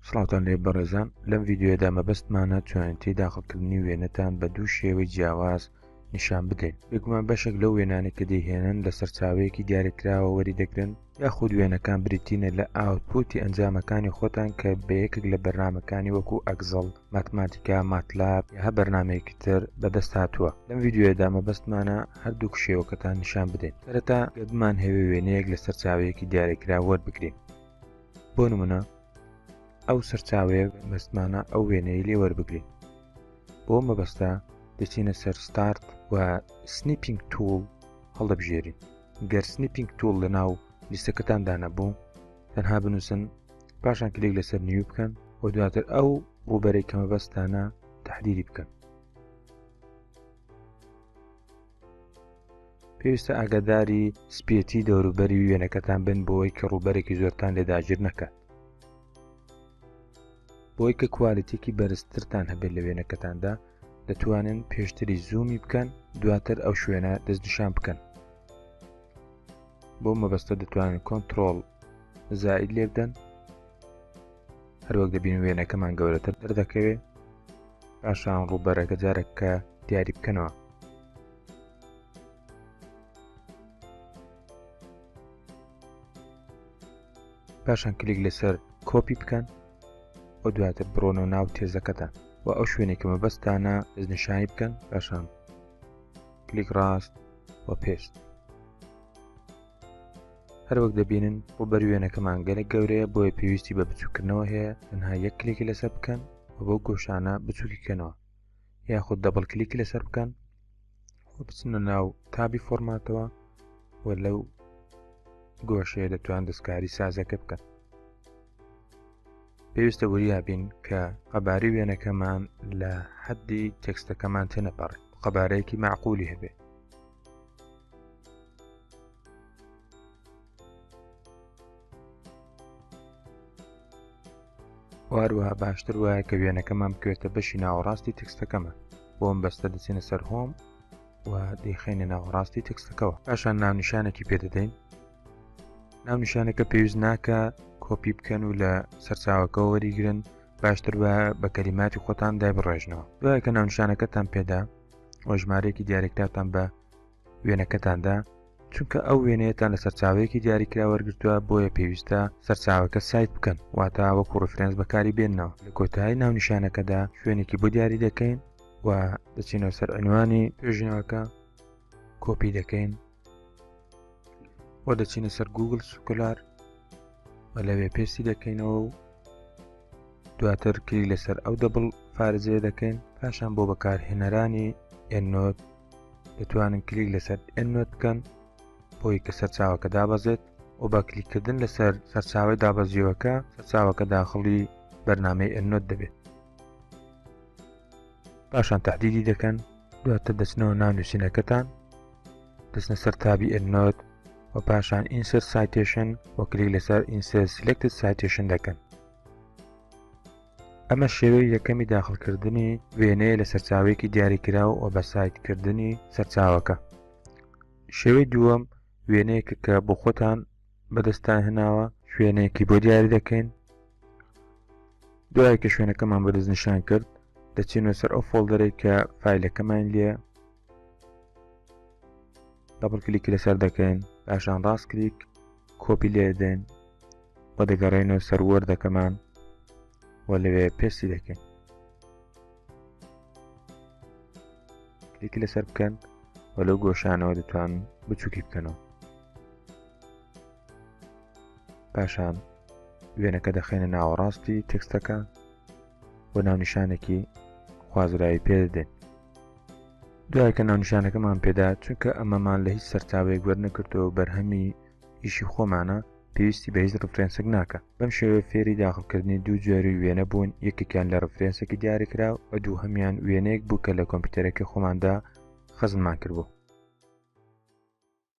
سڵاوتان لێ بەڕێزان لەم ڤیددیوەدا مەبەستمانە چۆنێتی داخڵکردنی وێنەتان بە دوو شێوەی جیاواز نیشان بدەین بگومان بەشێک لەو وێنانە کە دەیهێنن لە سەرچاوەیەکی دیارەکراوە وەری دەگرن یاخود وێنەکان بریتینە لە ئاوتپوتی ئەنجامەکانی خۆتان کە بە یەکێک لە بەرنمەکانی وەکو ئەگزڵ ماتماتیکا ماتلاب هە بەرنمەیەکی تر بەدەست هاتووە لەم یددیوێدا مەبەستمانە هەردوو کشێوەکەتان نیشان بدەین سەرەتا گەبمان هەوێ وێنەیەک لە سەرچاوەیەکی دیارەکرا وەربگرین بۆ نمونە ئەو سەرچاوەیە مەستمانە ئەو وێنەی لێ وەربگرین بۆ مەبەستا دەچینە سەر ستارت و سنیپینگ توول هەڵدەبژێرین گەر سنیپینگ توول لە ناو لیستەکەتان دانەبوو تەنها بنووسن پاشان کلێک لەسەر نیو بکەن و دواتر ئەو ڕووبەرەی کەمە بەستانە تحدیری بکەن پێویستە ئاگاداری سپێتی دەوروبەری وێنەکەتان بن بۆەوەی کە ڕووبەرێکی زۆرتان لێ داگیر نەکات بۆی کە کوالەتێکی بەرزترتان هەبێت لە وێنەکەتاندا دەتوانن پێشتری زوومی بکەن دواتر ئەو شوێنە دەستنیشان بکەن بۆ مەبەستە دەتوانن کۆنتترۆل زائید لێبدەن هەروەک دەبین وێنەکەمان گەورەتر دەردەکەوێ پاشان ڕووبەرەکە جارەکە دیاری بکەنەوە پاشان کلیک لەسەر کۆپی بکەن و دواتر بڕۆنەوە ناو تێزەکەتان و ئەو شوێنێک کە مەبەستانە دەستنیشانی بکەن پاشان کلیک ڕاست و پێست هەروەک دەبینن ڕوبەر وێنەکەمان گەلە گەورەیە بۆیە پێویستی بە بچووکردنەوە هەیە تەنها یەک کلێکی لەسەر بکەن و بۆ گۆشانە بچووکیکەنەوە یاخود دەبڵ کلیکی لەسەر بکەن و بچنە ناو تابی فۆرماتەوە و لەو گۆشەیە دەتوان دەستکاری سازەکە بکەن پێویستە وریابین کە قەباری وێنەکەمان لە حەدی تێکستەکەمان تێنەپەڕێت قەبارەیەکی معقولی هەبێت هەروەها باشتر وایە کە وێنەکەمان بکوێتە بەشی ناوەڕاستی تکستەکەمە بۆم بەستە دەچینە سەر هۆم و دەیخینە ناوەڕاستی تکستەکەەوە پاشان ناونیشانێکی پێدەدەین ناونیشانەکە پێویست ناکە کۆپی بکەن و لە سەرچاوەکە وەریگرن باشتر بە بە کەلیماتی خۆتان دای بڕێژنەوە دوایە کە ناونشانەکەتان پێدا و ژمارەیەکی دیارێکراتان بە وێنەکەتاندا چونکە ئەو وێنەیەتان لە سەرچاوەیەکی دیاریکرا وەرگتووە بۆیە پێویستە سەرچاوەکە سایت بکەن واتا وەکو ڕفرەنس بەکاری بێنەوە لە کۆتایی ناونیشانەکەدا شوێنێکی بۆ دیاری دەکەین و دەچینەوە سەر عنوانی توێژینەوەکە کۆپی دەکەین و دەچینە سەر گوگل سکولار و لەوێ پێستی دەکەینەوە و دواتر کلی لەسەر ئەو دەبڵ فارزێ دەکەین پاشان بۆ بەکارهێنەرانی ئەنۆت دەتوانن کلیک لەسەر ئەنۆت بکەن بۆی کە سەرچاوەکە دابەزێت و بە کلیکردن لەسەر سەرچاوی دابەزیوەکە سەرچاوەکە داخڵی بەرنمەی ئەنۆت دەبێت پاشان تهدیدی دەکەن دواتر دەچنەوە ناونووسینەکەتان دەچنە سەر تابی ئەنۆت و پاشان ئینسەر سایتێشن و کلیک لەسەر ئینسەر سلکتت سایتێشن دەکەن ئەمە شێوەی یەکەمی داخلکردنی وێنەیە لە سەرچاوێکی دیاریکراو و بە سایتکردنی سەرچاوەکە شێوەی دووەم وێنەیەکە کە بۆ خۆتان بەدەستان هێناوە شوێنێکی بۆ دیاری دەکەین دوای کە شوێنەکەمان بەدەست نیشان کرد دەچینە سەر ئەو فۆلدەرێک کە فیلەکەمان لێ دەبڵ کلیک لەسەر دەکەین پاشان ڕاست کلیک کۆپی لێدەین و دەگەڕێنەوە سەر وەردەکەمان و لەوێ پێستی دەکەین کلیک لەسەر بکەن و لەو گۆشانەوە دەتوان بچووکی بکەنەوە پاشان وێنەکە دەخێنە ناوەڕاستی تێکستەکە بۆ ناونیشانێکی خوازراوی پێدەدەین دوای کە ناونیشانەکەمان پێدا چونکە ئەمەمان لە هیچ سەرچاوێک وەرنەکردەوە بەرهەمی ئیشی خۆمانە پێویستی بە هیچ ڕفرێنسک ناکە بەم شێوێ فێری داخلکردنی دوو جۆری وێنە بوون یەکێکیان لە ڕفرێنسێکی دیاریکرا و دوو هەمان وێنەیەک بوو کە لە کۆمپیوتەرەکە خۆماندا خەزممان کردبوو